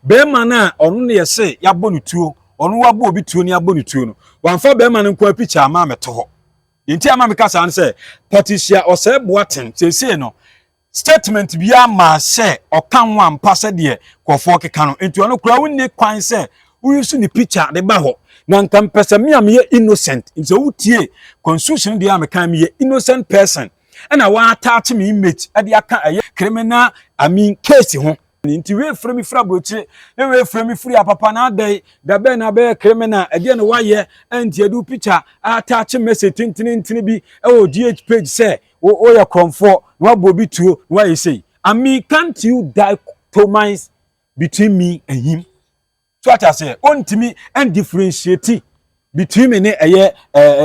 barima no a ɔno na yɛsɛ yɛabɔ no tuo, ɔno wabɔ obi tuo ne abɔ no tuo no, wamfa barima no nko ara pikya ama mɛto hɔ. Deɛ nti ama meka saa no sɛ, Patricia Ɔsɛe Boateng seesei no, statement biara maa sɛ ɔka ho ampa sɛdeɛ nkurɔfoɔ keka no, nti ɔno koraa wonni kwan sɛ woyusu ne pikya de ba hɔ. Na nka mepɛ sɛ me a meyɛ innocent, nti sɛ wotie constitution deɛ a meka meyɛ innocent person, ɛna wɔataakye me image de aka ɛyɛ criminal, I mean case ho. Nti woefura me firi aburokyire, na woefura me firi apapa na adɛn? Da bɛn na abɛyɛ criminal? Ɛdeɛn na woayɛ? Ɛnti yɛde wo picture attach message tentenentene bi wɔ GH page sɛ woyɛ korɔmfoɔ na woabɔ obi tuo na woayɛ sei. I mean can't you dictomize between me and him? so ate aseɛ ɔntumi differentiate between me ne ɛyɛ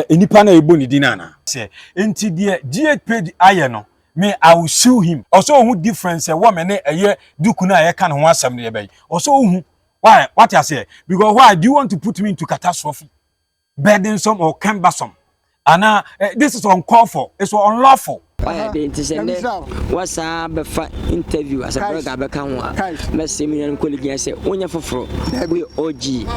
nnipa no a ɛbɔ ne din anaa sɛ nti deɛ GH page ayɛ no me I will sue him ɔsɛ ɔhu difference ɛwɔ me ne ɛyɛ duku no a yɛka ne ho asɛm no yɛbɛyi ɔsɛ ɔhu why wate aseɛ because why do you want to put me into catastrophe burdensome or cumbersome anaa eh, this is uncalled for it's unlawful. ɔyɛ de nti sɛ nnɛ wasaa bɛfa interview asɛpɛrɛ ka bɛka ho a mɛsɛ me nuanom kɔligi sɛ wonyɛ foforɔ woyɛ og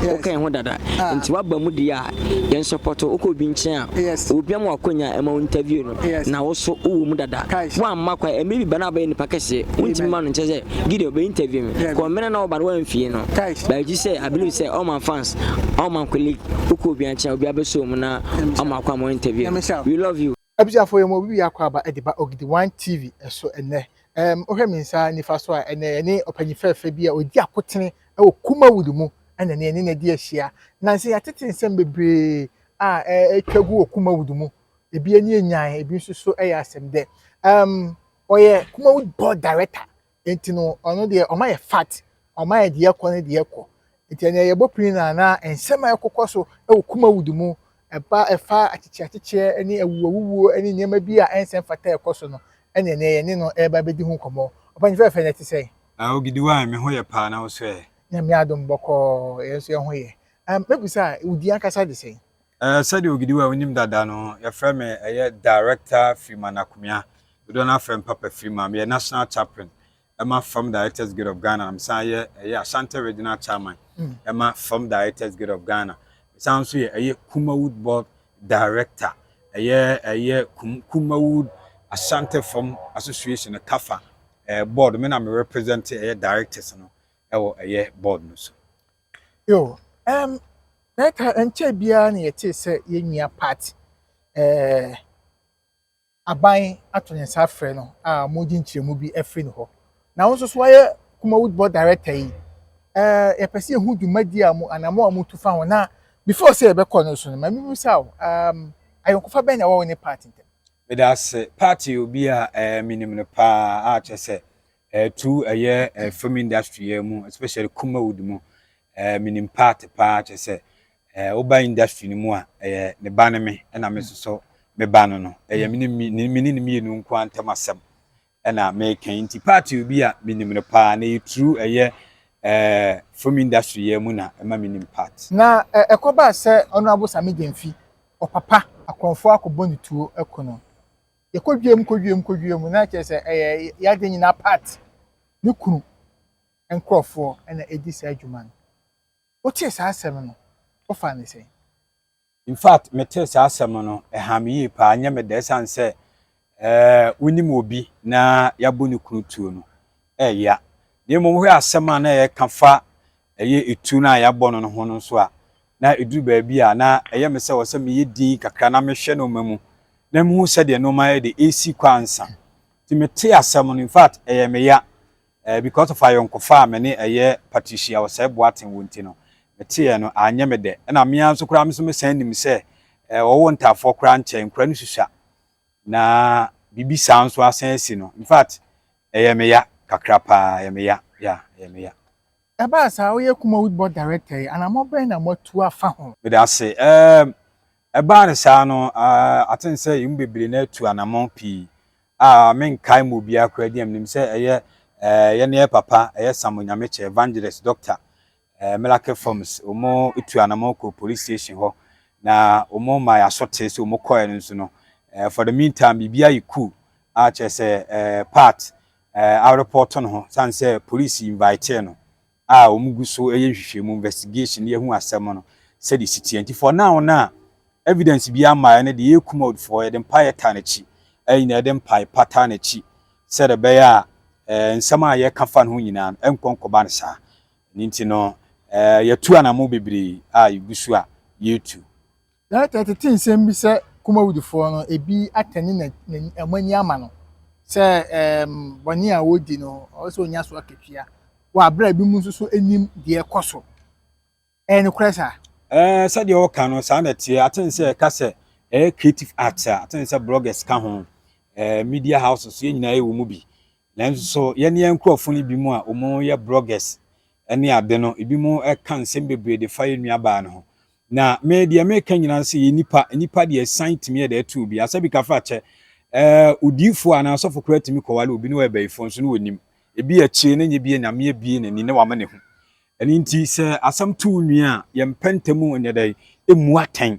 woka yɛn ho dada ah. nti waba mu deɛ a yɛn sɔpɔtɔ wokɔ obi nkyɛn a obi ama wakɔnya ɛma wo interview no na wo so wowɔ mu dada. Woamma kwan, ɛmɛ bi ba na abɛyɛ nipa kɛseɛ. Wontumi ma no nkyɛ sɛ Gideon bɛ interview me. Kɔ mmerɛ na ɔba no woamfie no. But gye sɛ I believe sɛ all my fans, all my colleague, wokɔ obi ankyɛn obi abɛsɔ mu na ɔma akɔ ama interview no. We love you. Abusuafoɔ yɛma obi bi akɔ aba de ba Ogidi One TV so ɛnnɛ. Ɛɛm wohwɛ me nsa nifa so a ɛnnɛ yɛne ɔpanyin fɛɛfɛ bi a ɔdi akotene wɔ Kumawood mu ɛna ɛnnɛ yɛne no adi ahyia. Nansa yi yɛatete nsɛm bebree a ɛɛtwa gu wɔ Kumawood mu ebi ani yɛ nyan, ebi nso so yɛ asɛm dɛ. Um, ɔyɛ Kumawu board director, nti no ɔno deɛ ɔma yɛ fat, ɔma yɛ deɛ ɛkɔ ne deɛ ɛkɔ. Nti ɛnna yɛbɔ pini na na nsɛm a ɛkokɔ so wɔ Kumawu de mu, ɛba ɛfa akyekyeakyekyɛ ne awuwuo ne nneɛma bi a ɛnsɛ mfata ɛkɔ so no, ɛnna ɛnɛ yɛne no ɛreba abɛdi ho nkɔmmɔ. Ɔpɛn fɛɛfɛ na ɛte sɛn? Ah, Ogidiwai, me ho yɛ paa na wo so ɛ? Nyame adom bɔkɔɔ, yɛn nso yɛn ho yɛ. Um, mɛbisa a, wo din ankasa de sɛn? Eh, sɛdeɛ Ogidi wɔ a wonim dada no, yɛfrɛ me ɛyɛ Director Freeman Akumia, dodoɔ no ara frɛ me Papa Freeman. Meyɛ National Chaplain ɛma Fam Directors Guild of Ghana na mesan yɛ ɛyɛ Ashanti Regional Chairman ɛma Fam Directors Guild of Ghana. Mesan nso yɛ ɛyɛ Kumawood Board Director ɛyɛ ɛyɛ Kum Kumawood Ashanti Fam Association no kafa ɛɛ board. Me na me represent ɛyɛ directors no ɛwɔ ɛyɛ board no so. Yo, um, na ɛka ɛnkyɛ biara na yɛtee sɛ yɛn nua Pat eh, aban ato ne nsa afrɛ no a wɔregye nkyerɛmu bi afiri ne hɔ. Na wo nso so woayɛ Kumawood Board Director yi. Eh, yɛpɛ sɛ yɛhu dwumadi a mo anamɔ a motu fa ho na before sɛ yɛbɛkɔ no so no, ma mebisa wo, um, ayɔnkofa bɛn na ɛwɔ wo ne Pat ntam? Meda ase. Pat yɛ obi a eh, menim no paa a kyerɛ sɛ Ɛtu ɛyɛ eh film industry yɛ mu especially kumawood mu eh minim part paa kyɛ sɛ eh woba industry no mu a ɛyɛ ne ba ne me ɛna me soso me ba no no ɛyɛ me ne me ne ne mmienu nko ara ntɛm asɛm ɛna meka yi nti part obi a minim no paa na ɛyɛ true ɛyɛ eh film industry yɛ mu na ɛma minim part. Na eh ɛkɔbaa sɛ Honourable Same Gyamfi ɔpapa akorɔmfoɔ akɔbɔ ne tuo aku no. yɛkɔ dwam kɔ dwam kɔ dwam na kyerɛ sɛ ɛyɛ yɛade nyinaa part ne kunu nkurɔfoɔ na ɛdi saa adwuma no wotee saa asɛm no wofaa no sɛn? In fact metee saa asɛm no ɛhaa me yie paa nyɛ me dɛ ɛsiane sɛ ɛɛ wonim obi na yɛabɔ ne kunu tuo no ɛɛya na mmom wohwɛ asɛm a na yɛka fa ɛyɛ etuo no a yɛabɔ no no ho no nso a, na ɛduru baabi a na ɛyɛ me sɛ ɛwɔ sɛ meyɛ dinn kakra na mehwɛ nnoɔma mu na mehu sɛdeɛ nnoɔma yɛ de ɛresi kɔ ansa. Nti metee asɛm no, infact ɛyɛɛ me ya eh, because of ayɔnkofa a me ne ɛyɛ Patricia Ɔsɛe Boateng wɔ nti no, meteeɛ no anyɛ me dɛ. Ɛna me ara nso koraa me nso mesan nim sɛ eh, ɔwɔ ntaafoɔ koraa nkyɛn, nkura no susua na biribi saa nso asan asi no, infact ɛyɛɛ me ya kakra paa, ɛyɛ me ya, yeah, ɛyɛ me ya. Ɛbaa saa, woyɛ Kumawood Board Director yi, anammɔn bɛn na moatu afa ho? Medase. Ɛɛm, ɛbaa no saa no, ah, I think sɛ yɛn mu bebree no atu anammɔn pii. Ah, menkae mu obiara koraa din a menim sɛ ɛyɛ, eh, yɛne yɛn papa, ɛyɛ Sam Onyamekyɛ, Evangelist, Doctor, eh, Melake Forms, wɔn tu anammɔn kɔɔ police station hɔ, na wɔn maa yɛn asotee sɛ wɔn kɔɛ no nso no, eh, for the meantime, biribiara yɛ cool, ah, kyerɛ sɛ, eh, part, eh, areporto no ho sane sɛ police invitee no a wɔn gu so yɛ nhwehwɛmu, investigation, de ahu asɛm no sɛdeɛ ɛsi teɛ. Nti for now no a evidence biara mmaeɛ no de yɛ kum ɔdfoɔ, yɛde mpaeɛ taa n'akyi, ɛyɛ nyinaa yɛde mpae pa taa n'akyi sɛdeɛ ɛbɛyɛ a eh, nsɛm a yɛka fa no ho nyinaa no ɛnkɔ nkɔba no saa. Ne nti no eh, yɛtu anamo bebree a yɛgu so a yɛtu. Yɛate atete nsɛm bi sɛ Kumawudifoɔ no, ebi atane na wɔn ani ama no sɛ ɛɛm bɔne a wɔredi no, ɔwɔ sɛ ɔnya so akatua. Wɔ abere a ebi mu nso so anim deɛ ɛkɔ so. Ɛyɛ nokorɛ saa? Ɛɛ sɛdeɛ ɔka no saa na ɛteɛ. Ate nsɛ ɛka sɛ ɛyɛ creative arts a, ate nsɛ bloggers ka ho, ɛɛ media houses, yɛn nyinaa yɛwɔ mu bi. Nanso yɛne yɛn nkurɔfo no binom a wɔyɛ bloggers ne ade no, ebinom ka nsɛm bebree de fa yɛn nuabaa no ho. Na me deɛ meka nyinaa no sɛ yɛyɛ nnipa, nnipa deɛ san tumi yɛ dɛ to obi. Asɛ bi ka fa kyɛ, eh, odiifoɔ anaa ɔsɔfo koraa tumi kɔware obi na wɔyɛ bayifoɔ nso na wɔnim. Ebi akyire no nyɛ bi a Nyame abue n'ani na wama no ahu. Ɛno nti sɛ asɛm to wo nua a, yɛmpɛ ntɛm nyɛ dɛn, mmu atɛn.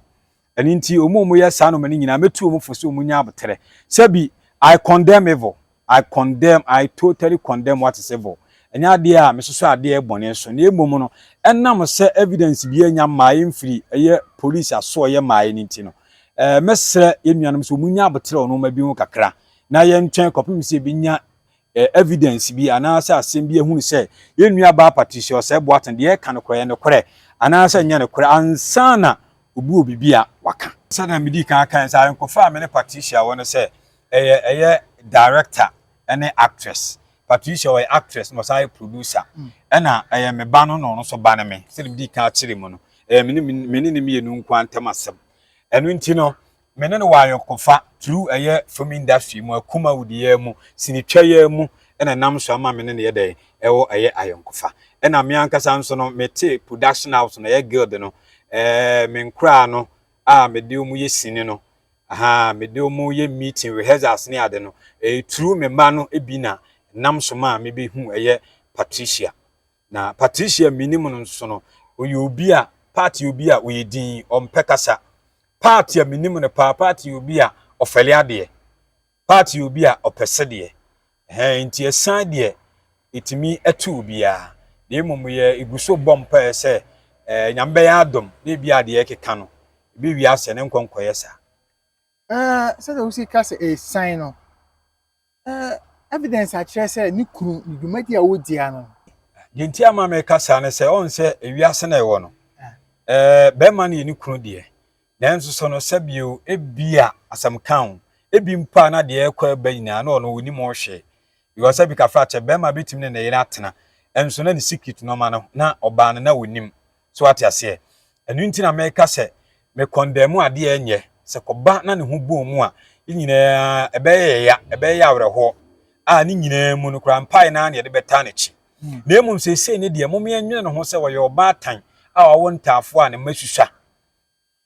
Ɛno nti, wɔn a wɔyɛ saa nneɛma no nyinaa, mɛtu wɔn fo sɛ wɔnnya aboterɛ. Sɛ bi, I condemn evil, I condemn, I totally condemn what is evil. Ɛnyɛ adeɛ a mesosɔ adeɛ bɔne so, na mmom no, ɛnam sɛ evidence biara nnya mmaeɛ mfiri ɛyɛ polisi asoɛeɛ mmaeɛ no nti no, mɛsrɛ yɛn nuanom sɛ wɔnnya aboterɛ wɔn mma bi ho kakra, na yɛntwɛn kɔpem sɛ yɛbɛnya eh, evidence bi anaasɛ asɛm bi ahunu sɛ yɛn nuabaa Patricia Ɔsɛe Boateng deɛ ɛka no korɔ yɛ nokorɛ anaasɛ ɛnyɛ nokorɛ ansa na obi wɔ biribi a waka. Sɛdeɛ medii kan kae sɛ ayɔnkofa a me ne Patricia wɔ no sɛ ɛyɛ ɛyɛ director ne actress. Patricia ɔyɛ actress na ɔsan yɛ producer. Mm. Ɛna ɛyɛ me ba no na ɔno nso ba no me. Sɛdeɛ medii kan akyere mu no, ɛyɛ me ne ne mmienu nko ara ntam asɛm. Ɛno nti no, me ne no wɔ ayɔnkofa through ɛyɛ film industry mu, Akumawu de yɛɛ mu, sini twa yɛɛ mu na ɛnam so ama me ne no yɛ dɛn ɛwɔ ɛyɛ ayɔnkofa. Ɛna me ankasa nso no me te production house no ɛyɛ guild no ɛɛ me nkoraa no a me de wɔn yɛ sini no ahaa me de wɔn yɛ meeting rehearsals ne ade no ɛyɛ through me mma no bi na ɛnam so maa me bɛ hu ɛyɛ Patricia. Na Patricia menim no nso no, ɔyɛ obi a Pat yɛ obi a ɔyɛ din, ɔmpɛ kasa. Pat a menim no paa, Pat yɛ obi a ɔfɛle adeɛ. Pat yɛ obi a ɔpɛ sɛdeɛ. Hɛn nti ɛsan deɛ ɛtumi ɛto obiara. Na mmom yɛ ɛgu so bɔ mpaeɛ sɛ eh, Nyame bɛyɛ adom na ebi a deɛ ɛkeka no, ebi wie asɛ ne nkɔ nkɔyɛ saa. Eh, sɛdeɛ wosi ka sɛ ɛsan no. evidence akyerɛ sɛ ne kunu ne dwumadi a wodi ano no. Deɛ nti ama meka saa ne sɛ ɔn sɛ ewiase na ɛwɔ no ɛɛ bɛrima no yɛ ne kunu deɛ nanso sɛ no sɛ bio ebi a asɛm kan o ebi mpo a na deɛ ɛkɔ ɛba nyinaa na ɔno wɔn nim ɔhwɛ yɛ ɔsɛ bi kafra kyɛ bɛrima betumi ne ne yere atena ɛnso na ne secret nɔɔma no na ɔbaa no na wɔn nim So woate aseɛ? Ɛno nti na meka sɛ mekɔndɛɛmu adeɛ a ɛnyɛ. Sɛ kɔba na ne ho bɔɔ mu a, yɛn nyinaa, ɛbɛyɛ yɛn ya, ɛbɛyɛ yɛn awerɛhoɔ. A ne nyinaa mu no koraa, mpaeɛ no ara na yɛde bɛtaa n'akyi. Na mmom seesei no deɛ, momeɛ nwene ne ho sɛ ɔyɛ ɔbaatan a wawo ntaafoɔ a ne mma susua.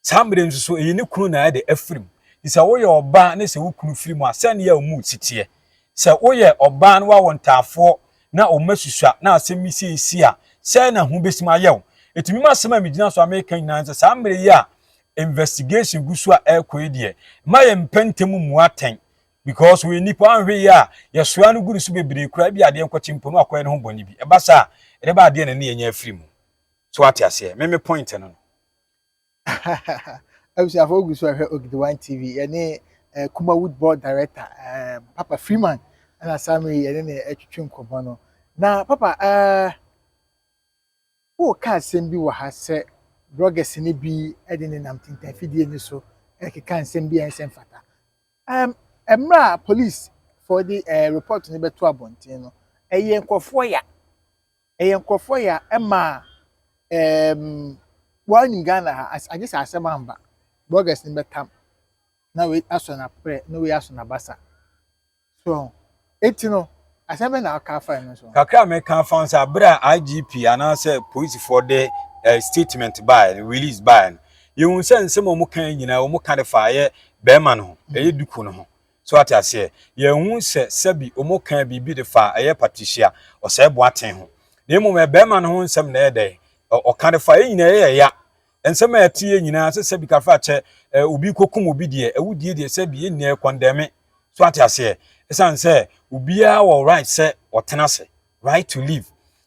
Saa mmerɛ yi nso so, ɛyɛ ne kunu na ɛde afiri mu. Nti sɛ woyɛ ɔbaa na sɛ wo kunu firi mu a, sɛdeɛ wo mood si teɛ? Sɛ woyɛ ɔbaa na woawɔ ntaafoɔ na wo mma susua na asɛm bi sei si a, sɛn na ho bɛsim ayɛ wo? Enti me m'asɛm a megyina so a mereka nyinaa ne sɛ, saa mmerɛ yi a investigation gu so a ɛrekɔ yi deɛ, mma yɛmpɛ ntɛm mmu atɛn because ɔyɛ nipa, woanhwɛ yie a, yɛsoa no gu ne so bebree koraa, ebia adeɛ nkɔkye mpo na wakɔyɛ ne ho bɔne bi. Ɛba saa a, ɛde ba adeɛ na ne yɛanya afiri mu. So woate aseɛ? Me me point no no. abusuafo ogu so ahwɛ Ogidiwan TV yɛne eh, Kuma Wood Board Director eh, Papa Freeman ɛna saa mmerɛ yi yɛne ne atwitwe nkɔmmɔ no na Papa eh, woka asɛm bi wɔ ha sɛ bloggers no bi de ne nam tintanfidie no so ɛkeka nsɛm bi a ɛnsɛ mfata um, mmerɛ a police fɔ de eh, report no bɛto abɔnten no ɛyɛ nkurɔfoɔ ya ɛyɛ nkorɔfoɔ yɛ a ɛma ɛɛm woaa nim Ghana ha agye sɛ asɛm amba bloggers no bɛtam na wei asɔ naprɛ na wei asɔ nabasa so wahu enti no asɛm bɛn na woka afa ɛno so. Kakra a mɛka afa ho sɛ aberɛ a IGP anaasɛ polisifoɔ de eh, statement baeɛ no release baeɛ no yɛhu sɛ nsɛm a wɔka nyinaa wɔka de faeɛ bɛrima no ho ɛyɛ duku no ho So wate aseɛ? Yɛanhu sɛ sɛbi wɔkaa biribi de faa ɛyɛ Patricia Ɔsɛe Boateng ho, na mmom ɛyɛ barima no ho nsɛm na ɛyɛ dɛn? ɛ, ɔka de faa. Yɛn nyinaa yɛyɛ ya. Nsɛm a yɛteeɛ nyinaa, sɛ sɛbi kafrakyɛ, ɛ, obi rekɔkum obi deɛ, awudie deɛ, sɛbi, yɛn nyinaa yɛkɔndɛme. So wate aseɛ? Ɛsiane sɛ obiara wɔ right sɛ ɔtena ase. right to live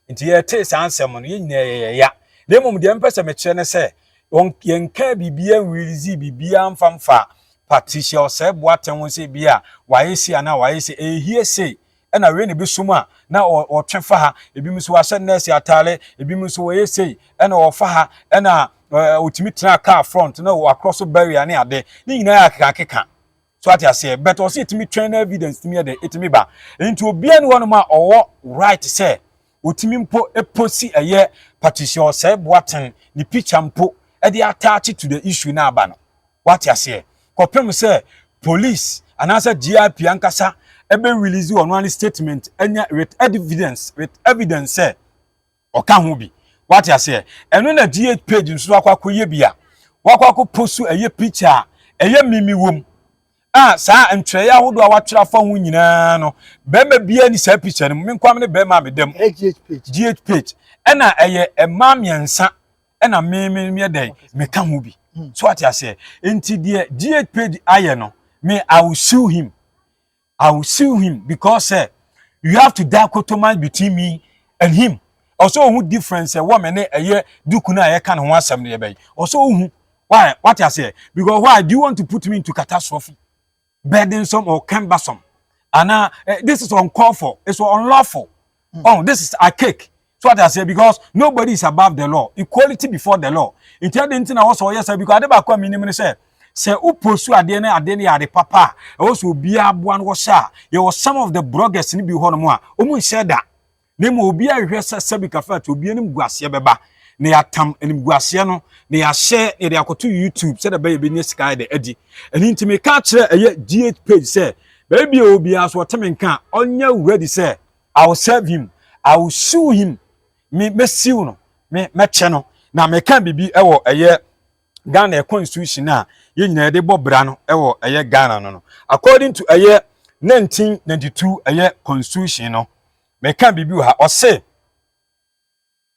nti yɛtee saa nsɛm no yɛn nyinaa yɛyɛ ya na mmom deɛ mpɛ sɛ mekyerɛ ne sɛ yɛnkaa biribiara nwirizi biribiara mfa mfa Patricia Osei Boateng ho sɛ bi a wayɛ sei anaa wayɛ sei ɛyɛ hie sei ɛna wei na ebi som a na ɔtwe fa ha ebinom nso wahyɛ nɛɛse ataare ebinom nso wɔyɛ sei ɛna ɔfa ha ɛna ɔtumi tena kaa front na wakorɔ so barrier ne ade ne nyinaa yɛ akekakeka so ate aseɛ but ɔsɛ ɛtumi twɛn na evidence tumi yɛ dɛ ɛtumi ba nti obiara ne hɔnom a ɔwɔ right sɛ ɔtumi mpo ɛposi ɛyɛ Patricia Osei Boateng ne picture mpo ɛde ataache to the issue na aba no wate aseɛ kɔpem sɛ police anaasɛ GIP ankasa ɛbɛ release ɔno ane statement ɛnyɛ with evidence with evidence sɛ ɔka ho bi wate aseɛ ɛno na die page nso akɔ akɔ yɛ bi a wakɔ akɔ posu ɛyɛ picture a ɛyɛ mimi wom a saa ntwerɛeɛ ahodoɔ a watwerɛ afa ho nyinaa no bɛrima biara ni saa picture no mu me nkwam ne bɛrima a meda mu gh page ɛna ɛyɛ mmaa mmiɛnsa ɛna mimi meɛ dɛn meka ho bi so wate aseɛ nti deɛ gh page ayɛ no me I will sue him I will sue him because sɛ you have to die kotoman between me and him ɔsɛ ohun difference sɛ wɔn ne ɛyɛ duku no a yɛka ne ho asɛm no yɛbɛn ɔsɛ ohun why wate aseɛ because why do you want to put me into catastrophe burdensome or cumbersome anaa eh, this is uncalled for it's unlawful Mm. Oh, this is archaic. So what I say because nobody is above the law. Equality before the law. Nti ade nti na wɔsɔ ɔyɛ sɛ because ade baako a menim ne sɛ sɛ woposu adeɛ ne adeɛ no yɛ ade papa a ɛwɔ sɛ obiara aboa no wɔhyɛ a yɛwɔ some of the bloggers no bi hɔ nom a wɔn nhyɛ da na mmom obiara hwehwɛ sɛ sɛbi kafa ati obiara anim guaseɛ bɛba na yɛatam animguaseɛ no na yɛahyɛ yɛde akɔto youtube sɛdeɛ bɛyɛ bɛnya sika yɛde adi ɛno nti meka kyerɛ ɛyɛ gh page sɛ baabi a obiara so ɔte me nka ɔnyɛ ready sɛ I will serve him, I will sue him, me mɛsiw no, me mɛkyɛ no. Na meka biribi wɔ ɛyɛ Ghana constitution a yɛn nyinaa yɛde bɔ bra no wɔ ɛyɛ Ghana no no. According to ɛyɛ 1992 ɛyɛ constitution no, meka biribi wɔ ha, ɔse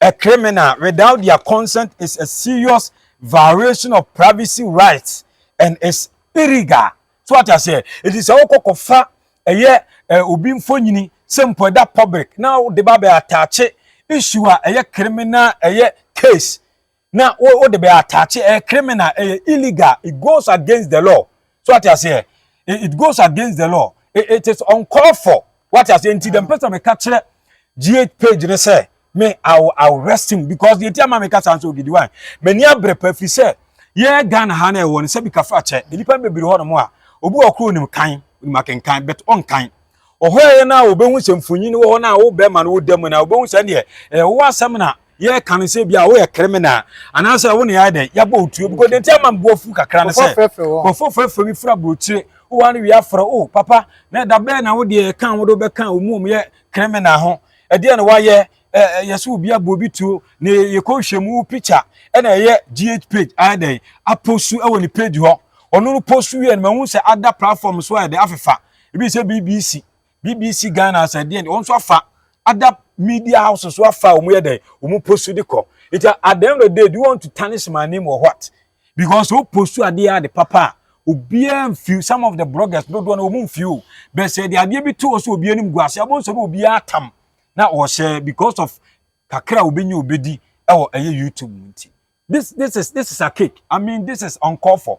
a criminal without their consent is a serious violation of privacy rights and is illegal. So what I say, it is all kokofa ɛyɛ obi mfonyini sɛ mpo ɛda public na wode ba bɛ ataakye issue a ɛyɛ criminal ɛyɛ case na wo wo de bɛ attach ɛyɛ eh, criminal ɛyɛ eh, illegal it goes against the law so ate aseɛ eh, eh, it goes against the law it, it is uncalled for wate aseɛ nti dɛm pɛsɛ meka kyerɛ gh page ne sɛ me i will i will rest him because deɛ ti ama meka saa nso ogidi wan m'ani abere pa fi sɛ yɛ ghana ha na ɛwɔ no sɛ bi kafa kyɛ nnipa bebree hɔ nom a obi wɔ koro nim kan nim akenkan but ɔnkan Ɔhɔɛeɛ no a wobɛhu sɛ mfonyin wɔ hɔ no a wo bɛrima no woda mu no a wobɛhu sɛ ɛneɛ ɛyɛ wo asɛm na yɛreka no sɛ bi a woyɛ kriminal anaasɛ wo ne yɛayɛ dɛn yɛabɔ wo tuo because denti ama mboa fu kakra no sɛ kɔfɔ fɛfɛ bi fura burokyire wowɔ ano wie afrɛ o papa na ɛda bɛɛ na wo deɛ ɛka wo de wobɛka wɔn mu wɔn yɛ kriminal ho ɛdeɛ na wayɛ yɛ so obi abɔ obi tuo na yɛkɔ hwɛ mu picture ɛna ɛyɛ gh page ayɛ dɛn aposu ɛwɔ ne page hɔ ɔno no posu wie no mahu sɛ ada platform so ayɛ dɛn afefa ebi sɛ bbc bbc ghana asɛ deɛ wɔn nso afa ada media house nso afa wɔn yɛ dɛ wɔn post de kɔ nti at the end of the day do you want to tarnish my name or what because o post adeɛ ade papa a obiara nfiw some of the bloggers dodoɔ na wɔn nfiw bɛ sɛ de adeɛ bi to wɔ so obi anim gu ase abɔ nsɛm obiara tam na wɔhyɛ because of kakra a obi nye obi di ɛwɔ ɛyɛ youtube nti this this is this is a cake i mean this is uncalled for.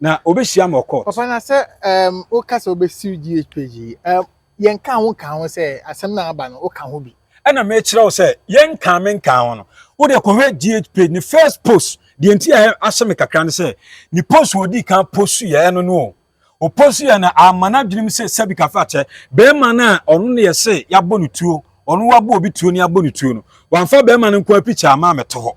Na obehyia ama ɔkɔɔt. Papa na sɛ ɛɛm woka sɛ wobɛsiw GHPG yi ɛɛm yɛn kaa ho nkaa ho sɛ asɛm no a aba no woka ho bi. Ɛna mekyerɛ wo sɛ yɛn nkaa me nkaa ho no wo deɛ kɔhwɛ GH page ne first post deɛ nti a ahyɛ me kakra ne sɛ ne post wɔ ɔdii kan post yɛ ɛno no o o post yɛ na ama no adwenem sɛ sɛbi kafa kyɛ bɛrima no a ɔno ne yɛ se yɛabɔ no tuo ɔno wabɔ obi tuo ne yɛabɔ no tuo no wamfa bɛrima no nko a picture ama me to hɔ.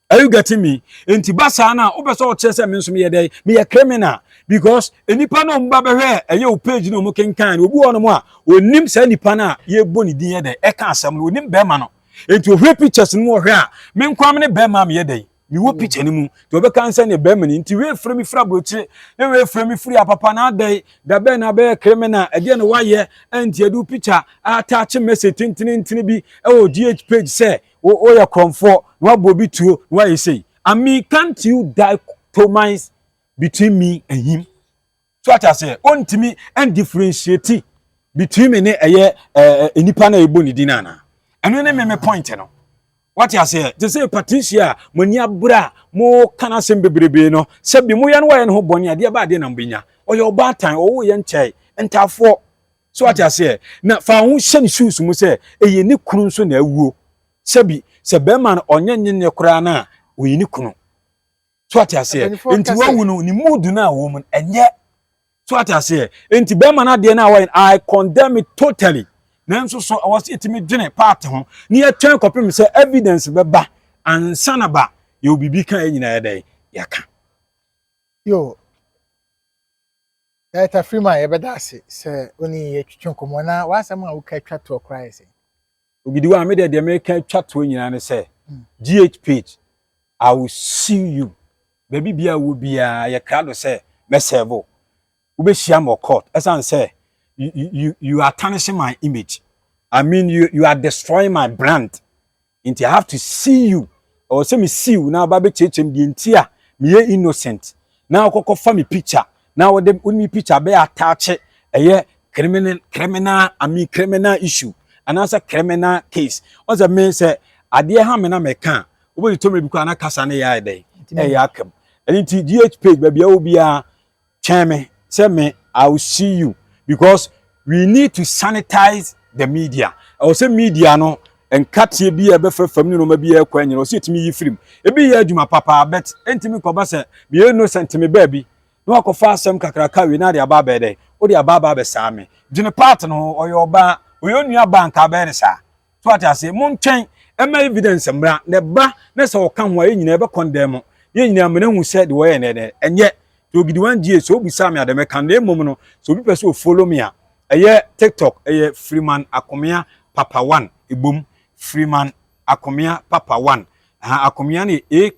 Are you getting me? Enti ba saa na wopɛ sɛ ɔkyerɛ sɛ me nso meyɛ dɛn? Meyɛ criminal because nipa na ɔmo ba bɛhwɛ ɛyɛ o page na ɔmo kenkan no obi wɔ hɔnom a onim saa nipa no a yɛbɔ ne din yɛ dɛn ɛka asɛm no onim bɛrima no enti ohwɛ pictures no mu ɔhwɛ a me nko a me ne bɛrima a meyɛ dɛn mewɔ picture no mu nti ɔbɛka nsɛ ne bɛrima no nti wei firi me firi aburokyire na wei firi me firi apapa na adɛn da bɛn na abɛyɛ criminal ɛdeɛ na wayɛ ɛnti ɛde picture attach message tentenentene bi ɛwɔ gh page sɛ Wo wo yɛ korɔmfoɔ na wabɔ obi tuo na wayɛ sei. I mean can't you dichotomize between me and him? So ate aseɛ ɔntumi ɛn differentiate between me ne ɛyɛ ɛɛ nipa na ɛbɔ ne din ana. Ɛno ne me me point no. Wate aseɛ te sɛ Patricia a mo ani abere a mo ka no asɛm bebrebe no sɛ bi mo yɛ no wayɛ ne ho bɔne adeɛ ba adeɛ na mo bɛnya. Ɔyɛ ɔbaatan ɔwɔ yɛ nkyɛe ntaafoɔ. So wate aseɛ? Na fa wo ho hyɛ ne shoes mu sɛ ɛyɛ ne kunu nso na awuo. Sɛbi, sɛ bɛrima no ɔnyɛ nye ne koraa no a, ɔyɛ ne kunu. So wate aseɛ? Mpanimfoɔ Nti kɛse. wahu no, ne mood no a ɔwɔ mu no, ɛnyɛ. So wate aseɛ? Nti bɛrima no adeɛ no a wayɛ no, I condemn it totally. Nanso so ɛwɔ sɛ yɛtumi dwene part ho na yɛtwɛn kɔpem sɛ evidence bɛba ansa na ba yɛwɔ biribi ka a yɛn nyinaa yɛ dɛn? Yɛaka. Yo. Director Freeman, yɛbɛda ase sɛ wo ne yɛn atwitwa nkɔmmɔ. Na w'asɛm a woka twa toɔ koraa yɛ sɛn? Ogidiwa, Me deɛ deɛ meka twa toɔ nyinaa ne sɛ, GH page, I will sue you. Baabi biara a wowɔ biara, yɛ krado sɛ mɛsɛɛve wo. Wobɛhyia me wɔ court ɛsiane sɛ you are tarnishing my image. I mean you are destroying my brand. nti I have to see you ɛwɔ sɛ me see wo na aba bɛkyerɛkyerɛ me deɛ nti a meyɛ innocent na wokɔkɔ fa me picture na wode wo ne picture bɛyɛ ataakyɛ ɛyɛ criminal criminal I mean criminal issue anaasɛ criminal case wɔn sɛ me sɛ adeɛ ha me na mɛka a wobɛdi tɔmɛ bi kɔ ana kasa no yɛ ayɛ dɛn ɛyɛ akam ɛno nti gh page baabi a wɔ biara Kyɛn me sɛ me I will see you because we need to sanitize the media. Ɛwɔ sɛ media no nkateɛ bi a ɛbɛfa fam ne nneɛma bi a ɛkɔ anyina ɔsɛ ɛtumi yi firim. Ebi yɛ adwuma papa but ɛntumi kɔba sɛ meyɛ innocent me baabi na wakɔfa asɛm kakra ka wei na ade aba abɛɛ dɛn? Wode aba aba abɛsaa me. Gyene part no ho ɔyɛ ɔbaa ɔyɛ onua baa nka abɛyɛ ne saa. so ate ase montwɛn ɛma evidence mmra na ɛba na sɛ ɔka ho a yɛn nyinaa ɛbɛkɔ ndɛn mo yɛn nyinaa mena hu sɛ de wɔyɛ nɛnɛ ɛnyɛ to ogidi wan die sɛ obusa me adɛm ɛka na mmom no sɛ obi pɛ sɛ o follow me a ɛyɛ tiktok ɛyɛ freeman akomea papa one ebom freeman akomea papa one aha akomea no yɛ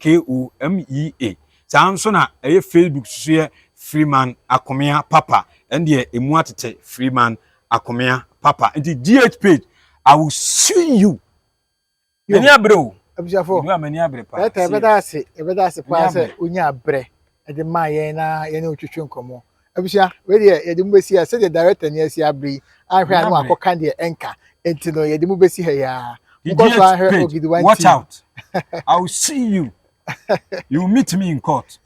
akomea saa nso na ɛyɛ facebook so yɛ freeman akomea papa ɛndeɛ emu atete freeman Akomea papa nti GH page I will sue you. Mani abere o. Abusuafo. Edu a mani abere paa. Ɛtɛ ɛbɛda ase ɛbɛda ase paa sɛ onya abere ɛde maa yɛn na yɛn otwitwi nkɔmɔ. Abusua wei deɛ yɛde mu besi ha sɛdeɛ director ni asi abere yi ahwɛ ano akɔka deɛ ɛnka nti no yɛde mu besi ha yaa. Nkɔ so ahwɛ Ogidiwa TV. Watch out. I will see you. You meet me in court.